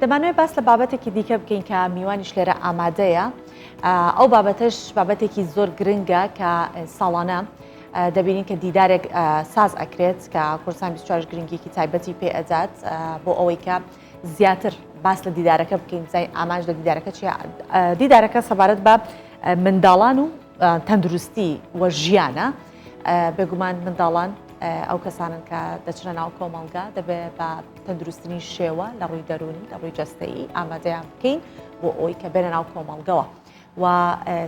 دەمانوێت باس لە بابەتێکی دیکە بکەین کە میوانیش لێرە ئامادەیە ئەو بابەتش بابەتێکی زۆر گرنگە کە ساڵانە دەبینین کە دیدارێک ساز ئەکرێت کە کورسان 24 گرنگیکی تایبەتی پێ ئەدات بۆ ئەوەی کە زیاتر باس لە دیدارەکە بکەین زای ئامانج لە دیدارەکە چی دیدارەکە سەبارەت بە منداڵان و تەندروستی وە ژیانە. بێگومان منداڵان ئەو کەسانن کە دەچنە ناو کۆمەڵگا دەبێ بە تەندروستنی شێوە لە ڕووی دەرونی لە ڕووی جستەیی ئامادەیان بکەین بۆ ئەوی کە بێنە ناو کۆمەڵگەوە و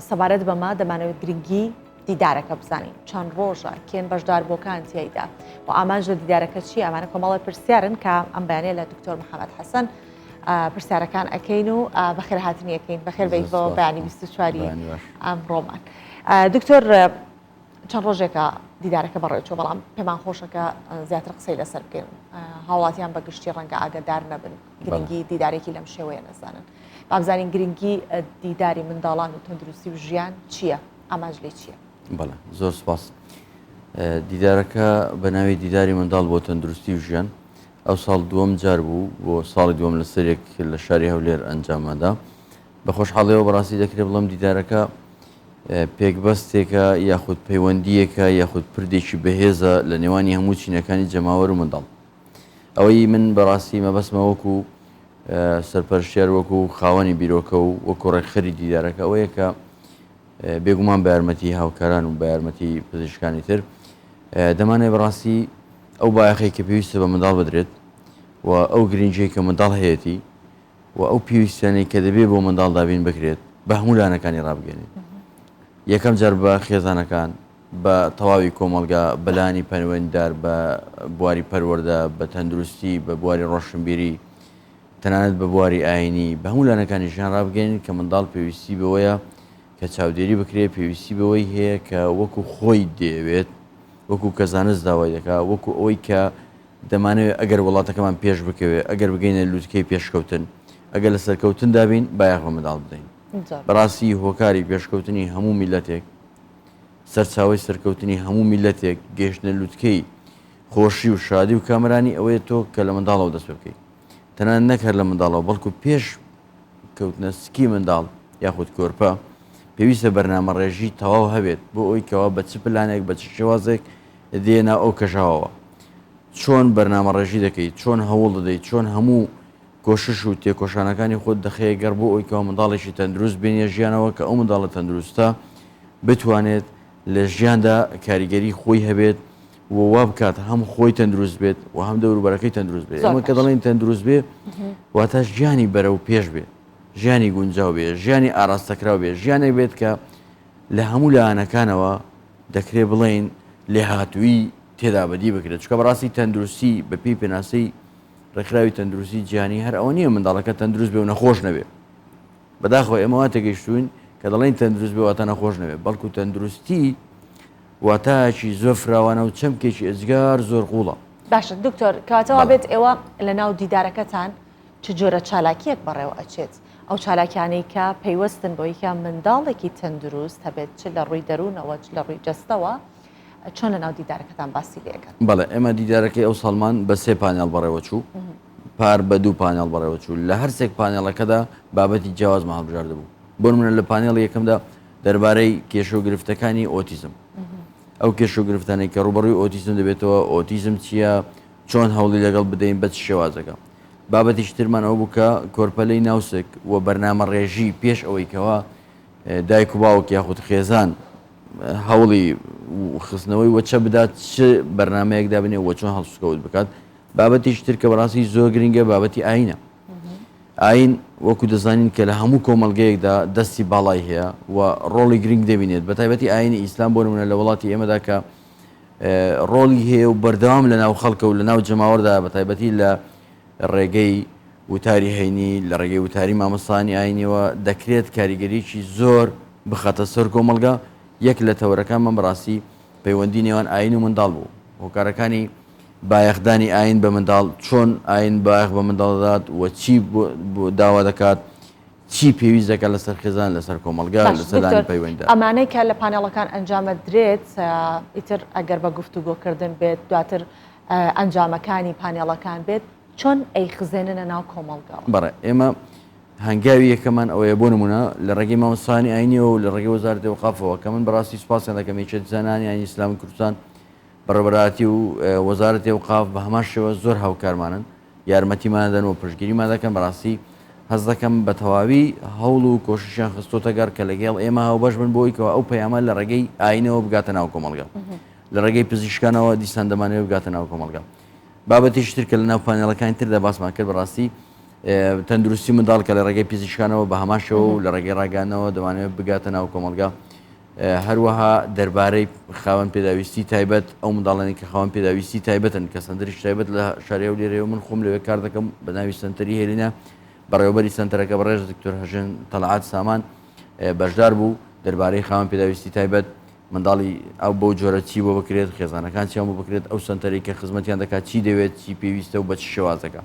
سەبارەت بەمە دەمانەوە گرنگی دیدارەکە بزانین چەند ڕۆژە کێن بەشدار بۆکان تیایدا و ئامانج لە دیدارەکە چی ئەمانە کۆمەڵی پرسیارن کە ئەم بەیانە لە دکتۆر محەممەد حەسەن پرسیارەکان ئەەکەین و بەخێرهاتنیەکەین بەخێر بەیت بۆ بەیانی 24 ئەم ڕۆمان دکتۆر چەند ڕۆژێکە دیدارەکە بەڕێچوە بەڵام پێمان خۆشە کە زیاتر قسەی لەسەر بکەین هاوڵاتیان بە گشتی ڕەنگە ئاگدار نەبن گرنگی دیدارێکی لەم شێوەیە نەزانن بابزانین گرنگی دیداری منداڵان و تەندروستی و ژیان چییە ئاماژ لێ چییە بەڵ زۆر سپاس دیدارەکە بە ناوی دیداری منداڵ بۆ تەندروستی و ژیان ئەو ساڵ دووەم جار بوو بۆ ساڵی دووەم لە سەرێک لە شاری هەولێر ئەنجامەدا بە خۆشحاڵەوە بەڕاستی دەکرێت بڵم دیدارەکە پێکبەستێکە یاخود پەیوەندییەکە یاخود پردێکی بەهێزە لە نێوانی هەموو چینەکانی جەماوەر و منداڵ ئەوەی من بەڕاستی مەبەستمە وەکو سەرپەرشتیار وەکو خاوەنی بیرۆکە و وەکو ڕێکخەری دیدارەکە ئەوەیە کە بێگومان بە یارمەتی هاوکاران و بە یارمەتی پزیشکانی تر دەمانێ بەڕاستی ئەو بایەخی کە پێویستە بە منداڵ بدرێت و ئەو گرنگی کە منداڵ هەیەی و ئەو پێویستیانەی کە دەبێت بۆ منداڵ دابین بکرێت بە هەموو لانەکانی ڕابگەنین یەکەم جار بە خێزانەکان بە تەواوی کۆمەڵگا بەلانی پەروەندار بە بواری پەروەەردە بە تەندروستی بە بواری ڕۆشنبیری تەنانەت بە بواری ئاینی بە هەموو لانەکانی ژیان ڕابگەین کە منداڵ پێویستی بەوەیە کە چاودێری بکرێت پێویستی بەوەی هەیە کە وەکو خۆی دەیەوێت وەکو کە زانست داوای دەکا وەکو ئەوەی کە دەمانەوێت ئەگەر وڵاتەکەمان پێش بکەوێت، ئەگەر بگەینە لوتکەی پێشکەوتن، ئەگەر لە سەرکەوتندا بین، بایەخ بە منداڵ بدەین. بەڕاستی هۆکاری پێشکەوتنی هەموو میللەتێک، سەرچاوەی سەرکەوتنی هەموو میللەتێک، گەیشتنە لوتکەی خۆشی و شادی و کامەرانی ئەوەیە تۆ کە لە منداڵەوە دەست پێ بکەیت. تەنانەت نەک هەر لە منداڵەوە، بەڵکو پێش کەوتنە سکی منداڵ یاخود کۆرپە، پێویستە بەرنامەڕێژی تەواو هەبێت بۆ ئەوەی کەوا بە چ پلانێک، بە چ شێوازێک دێ ناو ئەو کەژاوەوە چۆن بەرنامەڕێژی دەکەیت چۆن هەوڵ دەدەیت چۆن هەموو کۆشش و تێکۆشانەکانی خۆت دەخەیە گەڕ بۆ ئەوی کەوا منداڵێکی تەندروست بێنیە ژیانەوە کە ئەو منداڵە تەندروستە بتوانێت لە ژیاندا کاریگەری خۆی هەبێت و وا بکات هەم خۆی تەندروست بێت و هەم دەوروبەرەکەی تەندروست بێت ئەمە کە دەڵێن تەندروست بێ واتە ژیانی بەرە و پێش بێت ژیانی گونجاو بێ ژیانی ئاراستەکراو بێ ژیانێک بێت کە لە هەموو لایەنەکانەوە دەکرێت بڵێین لێهاتوویی تێدا بەدی بکرێت، چونکە بەڕاستی تەندروستی بە پێی پێناسەی ڕێکخراوی تەندروستی جیهانی هەر ئەوە نییە منداڵەکە تەندروست بێ و نەخۆش نەبێ. بەداخەوە ئێمە وا تێگەیشتووین کە دەڵێین تەندروست بێ واتە نەخۆش نەبێ، بەڵکو تەندروستی واتایەکی زۆر فراوانە و چەمکێکی ئێجگار زۆر قووڵە. باشە دکتۆر کەواتە وا بێت ئێوە لە ناو دیدارەکەتان، چ جۆرە چالاکییەک بەڕێوە ئەچێت؟ ئەو چالاکیانەی کە پەیوەستن بۆی کە منداڵێکی تەندروست هەبێت چ لە ڕووی دەروونەوە چ لە ڕووی جەستەوە چۆن لەناو دیدارەکەتان باسی لێ ئەکەن؟ بەڵێ ئێمە دیدارەکەی ئەوساڵمان بە سێ پانێڵ بەڕێوە چوو پار بە دوو پانێڵ بەڕێوە چوو لە هەر سێک پانێڵەکەدا بابەتی جیاوازمان هەڵبژاردە بوو بۆ نمونە لە پانێڵی یەکەمدا دەربارەی کێشە و گرفتەکانی ئۆتیزم ئەو کێشە و گرفتانەی کە ڕووبەڕووی ئۆتیزم دەبێتەوە ئۆتیزم چییە؟ چۆن هەوڵی لەگەڵ بدەین بە چ شێوازەکە؟ بابەتێکی ترمان ئەوە بوو کە کۆرپەلەی ناوسک و بەرنامەڕێژی پێش ئەوەی کەوا دایک و باوک یاخود خێزان هەوڵی خستنەوەی وەچە بدات چ بەرنمەیەک دابنێ وە چۆن هەڵسوکەوت بکات بابەتیش تر کە بەڕاستی زۆر گرنگە بابەتی ئاینە ئاین وەکو دەزانین کە لە هەموو کۆمەلگەیەکدا دەستی باڵای هەیە و ڕۆڵی گرنگ دەبینێت بە تایبەتی ئاینی ئیسلام بۆ نمونە لە وڵاتی ئێمەدا کە ڕۆڵی هەیە و بەردەوام لە ناو خەڵکە و لە ناو جەماوەردا بە تایبەتی لە ڕێگەی وتاری هەینی لە ڕێگەی وتاری مامۆستانی ئاینیەوە دەکرێت کاریگەریی زۆر بخاتە سەر کۆمەڵگا یەک لە تەوەرەکانمان بەڕاستی پەیوەندی نێوان ئاین و منداڵ بوو هۆکارەکانی بایەخدانی ئاین بە منداڵ چۆن ئاین بایەخ بە منداڵ دەدات و چی داوا دەکات چی پێویست دەکات لەسەر خێزان لەسەر کۆمەلگا لەسەرانی پەیوەندە ئەمانەی کە لە پانێڵەکان ئەنجامە درێت ئیتر ئەگەر بە گفتوگۆکردن بێت دواتر ئەنجامەکانی پانێڵەکان بێت چۆن ئەی خزێنە ناو کۆمەلگا بەڕێ ئێمە هەنگاوی یەکەمان ئەوەیە بۆ نمونە لە ڕێگەی مامۆسانی ئاینیەوە و لە ڕێگە وەزار دێوقافەوە کە من بەڕاستی سپاسیان دەکەم یەکێت زانانی ینی ئسلام کوردستان بەڕبەراتی و وەزارەتی و قاف بە هەمان شێوە زۆر هاوکارمانن یارمەتیمان دەدەن و پشتگیریمان دەکەن، بەڕاستی هەست دەکەم بە تەواوی هەوڵ و کۆششیان خستۆتە گەڕ کە لەگێڵ ئێمە هاوبەش بن بۆی کەوا ئەو پەیامە لە ڕێگەی ئاینەوە بگاتە ناو کۆمەڵگا لە ڕێگەی پزیشکانەوە دیسان دەمانەوە بگاتە ناو کۆمەڵگا بابەتیش تر کە لە ناو پانێڵەکانی تردا باسمان کرد بەڕاستی تەندروستی منداڵ کە لە ڕێگەی پزیشکانەوە بە هەماشەوە و لە ڕێگەی ڕاگەانەوە دەمانێت بگاتە ناو کۆمەلگا هەروەها دەربارەی خاوەن پێداویستی تایبەت ئەو منداڵانی کە خاوەن پێداویستی تایبەتن کە سنتەریش تایبەت لە شاری هەولێرەیە و من خۆم لەوێ کار دەکەم بە ناوی سنتەری هێلینە بەڕێوەبەری سنتەرەکە بەڕێز دکتۆر هەژێن تەلعات سامان بەشدار بوو دەربارەی خاوەن پێداویستی تایبەت منداڵی ئەو بەو جۆرە چی بۆ بکرێت خێزانەکان چیان بۆ بکرێت ئەو سنتەری کە خزمەتیان دەکات چی دەوێت چی پێویستە و بە چ شێوازەکە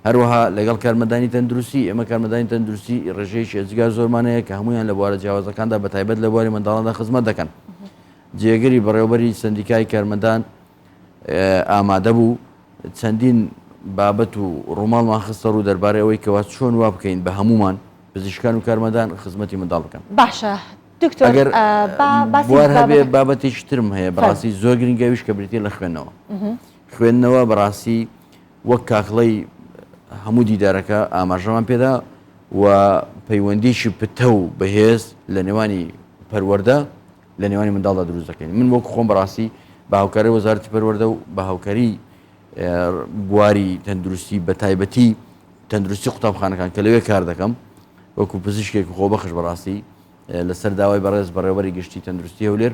هەروەها لەگەڵ کارمەندانی تەندروستی، ئێمە کارمەندانی تەندروستی ڕێژەیەکی ئێجگار زۆرمان هەیە کە هەموویان لە بوارە جیاوازەکاندا بە تایبەت لە بواری منداڵاندا خزمەت دەکەن. جێگری بەڕێوەبەری سەندیکای کارمەندان ئامادە بوو چەندین بابەت و ڕووماڵمان خستە ڕوو دەربارەی ئەوەی کەوا چۆن وا بکەین بە هەموومان پزیشکان و کارمەندان خزمەتی منداڵ بکەن. باشە دکتۆر ئەگەر آ، با باسی بوار هەبێ بابەتەکە- بابەتێکی ترم هەیە فەرموو. بەڕاستی زۆر گرنگە ئەویش کە بریتییە لە خوێندنەوە. خوێندنەوە بەڕاستی وەک کاکڵەی هەموو دیدارەکە ئاماژەمان پێدا و پەیوەندیکی پتە و بەهێز لە نێوانی پەروەەردە لە نێوانی منداڵدا دروست دەکەین من وەک خۆم بەڕاستی بە هاوکاری وەزارتی پەروەەردە و بە هاوکاری بواری تەندروستی بە تایبەتی تەندروستی قوتابخانەکان کە لەوێ کار دەکەم وەکو پزیشکێک خۆ بەخش بەڕاستی لەسەر داوای بەڕێز بەڕێوەری گشتی تەندروستی هەولێر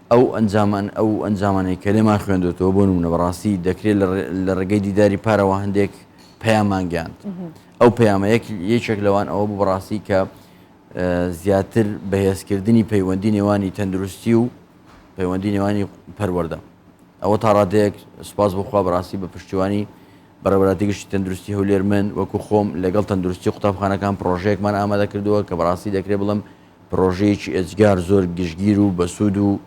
ئەو ئەنجامان ئەو ئەنجامانەی کە لێمان خوێندۆتەوە بۆ نمونە بەڕاستی دەکرێ لە ڕێگەی دیداری پارەوە هەندێک پەیامان گەیاند ئەو پەیامە یەک یەکێک لەوان ئەوە بوو بەڕاستی کە زیاتر بەهێزکردنی پەیوەندی نێوانی تەندروستی و پەیوەندی نێوانی پەروەەردە ئەوە تا ڕادەیەک سوپاس بخوا بەڕاستی بە پشتیوانی بەڕێوەراتی گشتی تەندروستی هەولێر من وەکو خۆم لەگەڵ تەندروستی قوتابخانەکان پرۆژەیەکمان ئامادە کردووە کە بەڕاستی دەکرێت بڵم پرۆژەیەکی ئێجگار زۆر گشتگیر و بەسوود و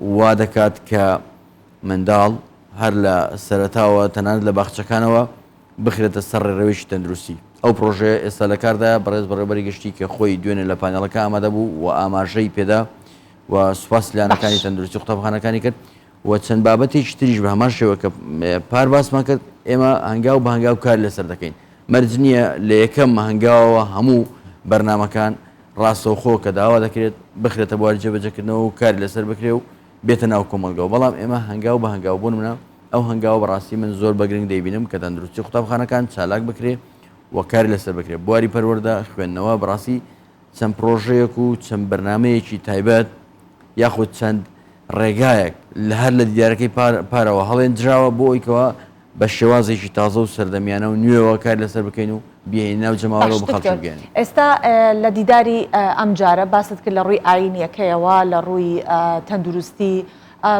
وا دەکات کە منداڵ هەر لە سەرەتاوە تەنانەت لە باخچەکانەوە بخرێتە سەر ڕێڕەوێکی تەندروستی ئەو پرۆژەیە ئێستا لە کاردایە بەڕێز بەڕێوبەری گشتی کە خۆی دوێنێ لە پانێڵەکە ئامادە بوو و ئاماژەی پێدا و سوپاس لانەکانی تەندروستی قوتابخانەکانی کرد و چەند بابەتێکی تریش بە هەمان شێوە کە پار باسمان کرد، ئێمە هەنگاو بە هەنگاو کار لەسەر دەکەین. مەرج نییە لە یەکەم هەنگاوەوە هەموو بەرنامەکان ڕاستەوخۆ کە داوا دەکرێت بخرێتە بواری جێبەجێکردنەوە و کار لەسەر بکرێ و بێتە ناو کۆمەڵگەوە، بەڵام ئێمە هەنگاو بە هەنگاو بۆ نمونە ئەو هەنگاوە بە ڕاستی من زۆر بە گرنگ دەیبینم کە تەندروستی قوتابخانەکان چالاک بکرێ و کار لەسەر بکرێ. بواری پەروەردە، خوێندنەوە بە ڕاستی چەند پرۆژەیەک و چەند بەرنامەیەکی تایبەت یاخود چەند ڕێگایەک لە هەر لە دیدارەکەی پارەوە هەڵێنجراوە بۆ ئەویکەوە بە شێوازێکی تازە و سەردەمیانە و نوێەوە کار لەسەر بکەین و بیێنی ناو جەماوەەوە بخەڵگەێن ئێستا لە دیداری ئەم جارە باست کرد لە ڕووی ئاینیەکەیەوە لە ڕووی تەندروستی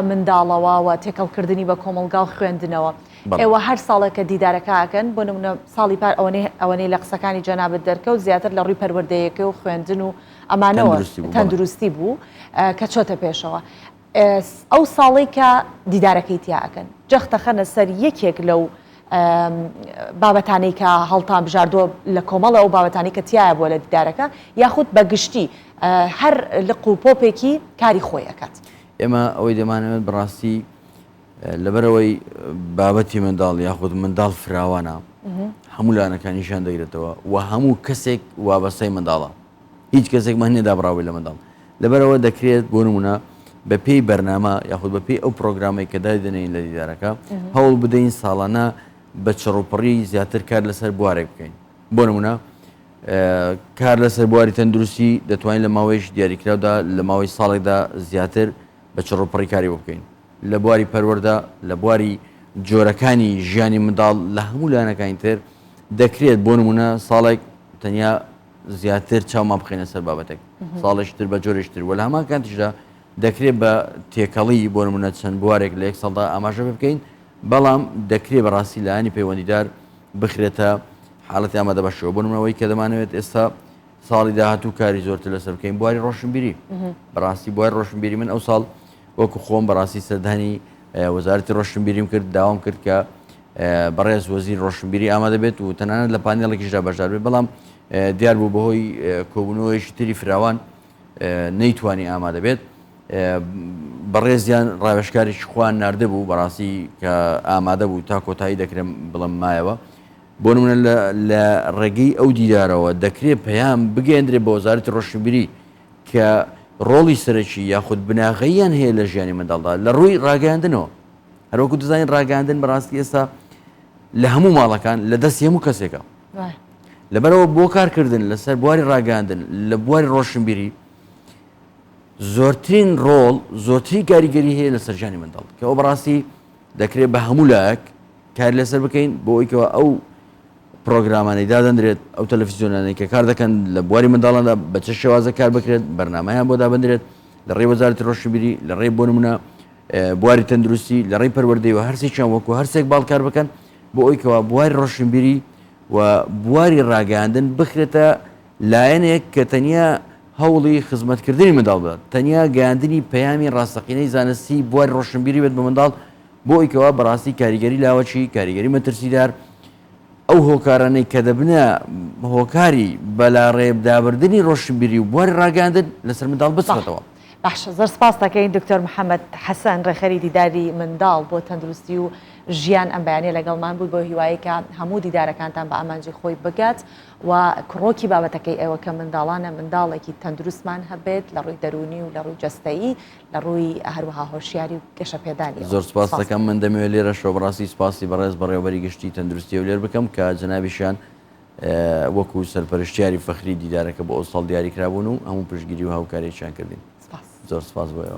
منداڵەوە و تێکەڵ کردنی بە کۆمەڵگا و خوێندنەوە ئێوە هەر ساڵێکە دیدارەکە ئەکەن بۆ نمونە ساڵی پار ئەوەنەی ئەوەنەی لە قسەکانی جەنابت دەرکەوت زیاتر لە ڕووی پەروەردەیەکە و خوێندن و ئەمانەوە تەندروستی بوو کە چۆتە پێشەوە ئەو ساڵی کە دیدارەکەی تیا ئەکەن جەختەخەنە سەر یەکێک لەو بابەتانەی کە هەڵتان بژاردووە لە کۆمەڵە ئەو بابەتانی کە تایە بووە لە دیدارەکە یاخود بە گشتی هەر لق و پۆپێکی کاری خۆی ئەکات. ئێمە ئەوەی دەمانەوێت بەڕاستی لەبەرەوەی بابەتی منداڵ یاخود منداڵ فراوانە هەموو لانەکانیشان دەگرێتەوە و هەموو کەسێک وابەستای منداڵە هیچ کەسێک من نێدا بڕاوی لە منداڵ لەبەرەوە دەکرێت بۆ نمونە بە پێی بەرنامە یاخود بە پێی ئەو پرۆگرامی کە دادنین لە دیدارەکە هەوڵ بدەین ساڵانە بە چڕوپڕی زیاتر کار لەسەر بوارێک بکەین بۆ نمونە کار لەسەر بواری تەندروستی دەتوانین لە ماوەیەکی دیاریکراودا لە ماوەی ساڵێکدا زیاتر بە چڕوپڕی کاری بۆ بکەین لە بواری پەروەردە لە بواری جۆرەکانی ژیانی منداڵ لە هەموو لایەنەکانی تر دەکرێت بۆ نمونە ساڵێک تەنیا زیاتر چاومان بخێنە سەر بابەتێک ساڵێشتر بە جۆرێشتر وە لە هەمان کاتیشدا دەکرێت بە تێکەڵی بۆ نمونە چەند بوارێک لە یەک ساڵدا ئاماژە بکەین بەڵام دەکرێت بەڕاستی لایەنی پەیوەندیدار بخرێتە حاڵەتی ئامادە باشەوە بۆ نمونە ئەوەی کە دەمانەوێت ئێستا ساڵی داهاتوو کاری زۆرتر لەسەر بکەین بواری ڕۆشنبیری بەڕاستی بواری ڕۆشنبیری من ئەو ساڵ وەکو خۆم بەڕاستی سەردانی وەزارەتی ڕۆشنبیریم کرد داوام کرد کە بەڕێز وەزیر ڕۆشنبیری ئامادە بێت و تەنانەت لە پانێڵێکیشدا بەشدار بێت بەڵام دیار بوو بەهۆی کۆبوونەوەیشی تری فراوان نەیتوانی ئامادە بێت بەڕێزیان ڕاوێشکاریش خوان نردبوو بەڕاستی کە ئامادە بوو تا کۆتایی دەکرێن بڵم مایەوە بۆ نمونە لە ڕێگەی ئەو دیدارەوە دەکرێت پەیام بگەندرێت بە وەزارەتی ڕۆشنبیری کە ڕۆڵی سەرەکی یاخود بناغەیان هەیە لە ژیانی منداڵدا لە ڕووی ڕاگەاندنەوە هەروەکو دەزانین ڕاگەاندن بەڕاستی ئێستا لە هەموو ماڵەکان لە دەستی هەموو کەسێکە لەبەرئەوە بۆ کارکردن لەسەر بواری ڕاگەاندن لە بواری ڕۆشنبیری زۆرترین ڕۆڵ زۆرتری کاریگەری هەیە لە سەرجانی منداڵ کە ئەو بەڕاستی دەکرێت بە هەموو لایەک کار لەسەر بکەین بۆ ئەویکەوە ئەو پرۆگرامانی دادەندرێت ئەو تەلەفیزیۆنانەی کە کار دەکەن لە بواری منداڵاندا بە چ شێوازە کار بکرێت بەرنمەیان بۆ دابدرێت لە ڕێ وەزارەتی ڕۆشنبیری لە ڕێ بۆ نمونە بواری تەندروستی لە ڕێی پەروەردەی و هەرسێکیان وەکو هەرسێک باڵکار بکەن بۆ ئەویکەوە بواری ڕۆشنبیری و بواری ڕاگەیاندن بخرێتە لایەنێک کە تەنیا هەوڵی خزمەتکردنی منداڵ بدات، تەنیا گەیاندنی پەیامی ڕاستەقینەی زانستی بواری ڕۆشنبیری بێت بە منداڵ بۆ ئەوی کەوا بەڕاستی کاریگەری لاوەکی، کاریگەری مەترسیدار، ئەو هۆکارانەی کە دەبنە هۆکاری بەلاڕێبدابردنی ڕۆشنبیری و بواری ڕاگەیاندن لەسەر منداڵ بچڕێتەوە. باشە زۆر سپاس دەکەین دکتۆر محمد حسن ڕێخەری دیداری منداڵ بۆ تەندروستی و ژیان ئەم بەیانە لەگەڵمان بوو بۆ هیوایی کە هەموو دیدارەکانتان بە ئامانجی خۆی بگات و کڕۆکی بابەتەکەی ئێوە کە منداڵانە منداڵێکی تەندروستمان هەبێت لە ڕووی دەرونی و لە ڕووی جەستەیی لە ڕووی هەروەها هۆشیاری و گەشە پێدانی زۆر سپاس دەکەم من دەمەوێت لێرە شۆبڕاستی سپاسی بەڕێز بەڕێوبەری گشتی تەندروستی هەولێر بکەم کە جەنابیشیان وەکو سەرپەرشتیاری فەخری دیدارەکە بۆ ئەوساڵ دیاریکرابوون و هەموو پشتگیری و هاوکارییەکیان کردین. سپاس. زۆر سپاس بۆ ئێوەش.